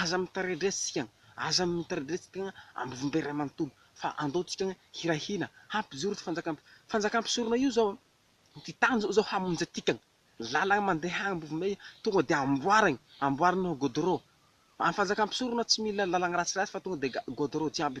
Aza mitredresika, aza mitredresika ambom-be iray manontolo, fa andeontsika hiray hina, hampijoro ity fanjakam fanjakam-pisorona io izao, ity tany izao izao hamonjy antika, lalana mandeha ambom-be tonga dia amboariny, amboariny ho godorô, amin'ny fanjakam-pisorona tsy mila lalana ratsiratsy fa tonga dia ga godorô jiaby.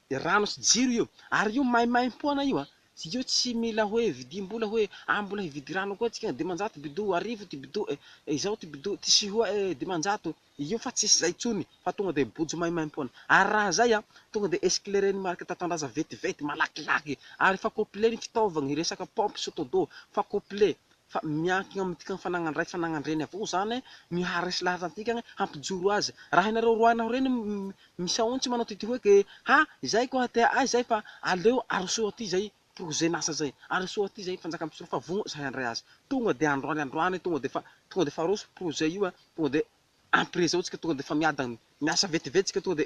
Rano sy jiro io. Ary io maimaimpoana io an! Io tsy mila hoe vidim-bola hoe ah mbola hividy rano koa tsika, dimanjato bidou, arivo ity bidou eh, izao ity bidou, ty sihoa eh, dimanjato. Io fa tsisy izay intsony fa tonga dia bojo maimaimpoana. Ary raha izay an, tonga dia esclairen'ny marika Tatandraza vetivety, malakilaky. Ary efa complet ny fitaovagna, hiresaka pompe, sotodo, fa complet. fa miankina amintika ny fananan ray fananan dreny avao zany ny haharesy lahatra antika ny hampijoro azy raha ianareo roahina ho reny misaontsy manao tity hoe ke ha izay ko ha tea ahy izay fa aleo aroso aty izay projet nasa izay aroso aty izay fanjaka mpisolo fa vogno izay handray azy tonga de androany androany tonga de fa tonga de fa aroso projet io a tonga de ampirezao tsika tonga de fa miadany miasa vetivety tsika tonga de